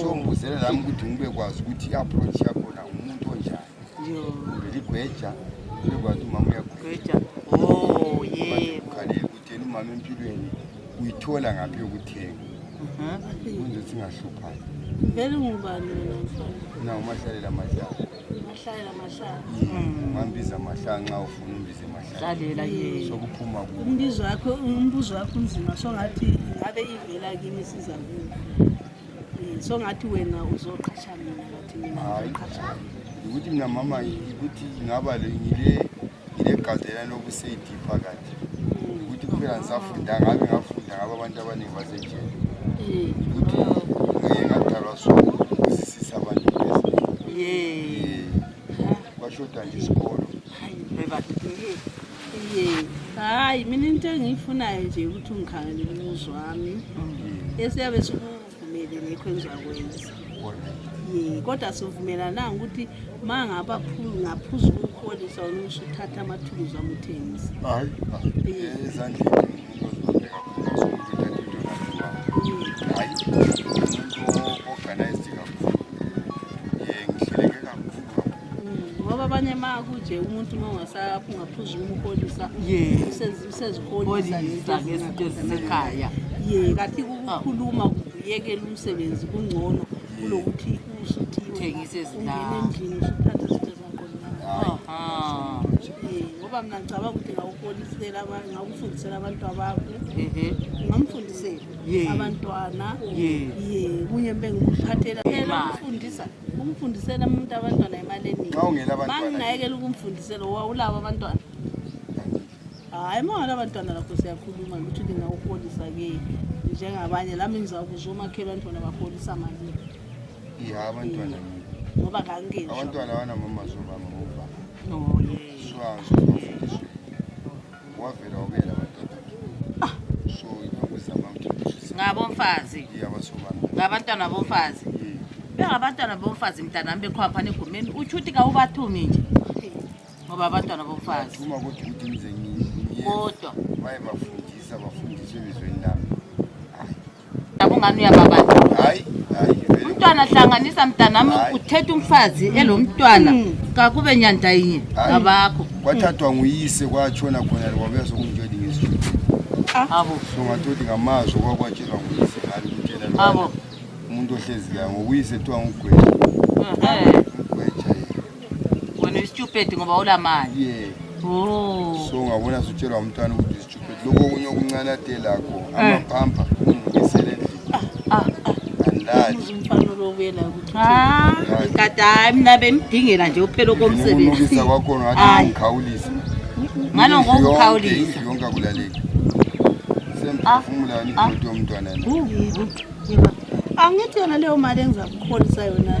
so mbuzere lami ukuthi ngibekwazi ukuthi i-approach yakhona umuntu onjani vele igweja ngibekwazi umama uyagweja oh, ukhalele ukuthi yena umama empilweni uyithola ngaphi yokuthenga mhm. kunze singahluphani vele ngubani wena mfana na umahlalela amahlala mahlala mahlala hmm. mambiza mahlala nxa ufuna umbize mahlalalela ye sokuphuma ku umbizo wakho umbuzo wakho unzima so ngathi ngabe ivela kimi siza ku eh, so ngathi wena uzoqhatsha mina ngathi mina uzoqhatsha ukuthi mina mama ukuthi ngaba le ngile ngile gazelana lokuseyidipha kanje ukuthi kuphela ngisafunda ngabe ngafunda ngabe abantu abaningi basenjeni ukuthi ngike ngadalwa so kusisisa abantu ezinengi kwashoda nje isikolo hayi mina into engiyifunayo nje ukuthi ungikhangele umuzi wami esiyabe siku kumele nekho engizakwenza kodwa sivumelananga ukuthi ma ngaphuza ukuholisa unisho uthatha amathuluzi amuthengisa hayi ezandleni ngoba abanye ma kuje umuntu uma ungasaphi ungaphuza umholisa useziholisa ngezinto ezisekhaya ye kathi kukhuluma kuyekela umsebenzi kungcono kulokuthi usuthithengise ezindlini usuthathe izinto zakhona ngoba mna ngicabanga ukuthi ngawuholisela ngawufundisela abantu abakho ngamfundisela abantwana ye kunye bengikuphathela ukufundisa ukumfundisela umuntu abantwana imali eningi mangingayekela ukumfundisela wawulabo abantwana hayi mangala abantwana lakho siyakhuluma ukuthi lingawuholisa ke njengabanye lami ngizakuzwa omakhelwa ntwana baholisa malini ya abantwana ngoba kangenje abantwana abanamama zobama obaba oh, wavera wabera batatu ah. so inyungu zabantu ngabomfazi ngabantwana bomfazi bengabantwana bomfazi mntanami bekhwapha negumeni utsho ukuthi kawubathumi nje ngoba abantwana bomfazi kodwa bayebafundisa bafundiswe elizweni lami Yabongani uyababala. Hayi, hayi. vele. Umntwana hlanganisa mntanami Hayi. uthethe umfazi elomntwana kakube nyanda yinye Hayi. ngabakho. Kwathathwa nguyise kwatshona khona le kwabuya sokumtshela ingizwe. Abo. So ngathothi ngamazwi okwakwatshela nguyise ngani kutshela lo Abo. bana. Umuntu ohlezi la ngokuyise kuthiwa ngugweja. Ehe. Ngugweja yena. Wena uyistupid ngoba ulamali. Yeah. Oh. So ngabona sutshelwa umntwana ukuthi lokhu okunye okuncanatelakho eh. amaphampa ungiselele kade hayi mna bemdingela nje uphela okomsebenzi kwakhona wathi ngikhawulisa ngalo ngokukhawulisa yonke akulaleki semphefumulani ah, ah. idoti yomntwana angithi yona leyo mali engizakukholisa yona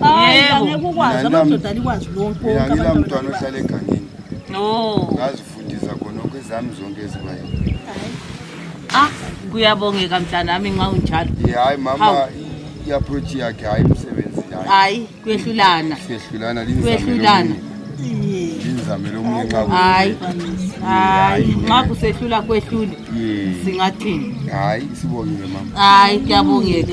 hayi Yebo. angeke ukwazi Mina nam- amadoda alikwazi lonke mina wonke ngila abantu mntwana abantwana ohlala egangeni Oh. ngazifundisa khonokho ezami zonke ezibayo Ah, kuyabongeka mntanami nxa unjalo. Ye, hayi mama Hawu. i- i-approach yakhe hayi umsebenzi hayi Hayi, kwehlulana. siyehlulana Kwehlulana. linzamele omunye nxa ku- Hayi. Hayi, nxa kusehlula kwehlule Ye, singathini? hayi sibongile mama Hayi, kuyabongeka.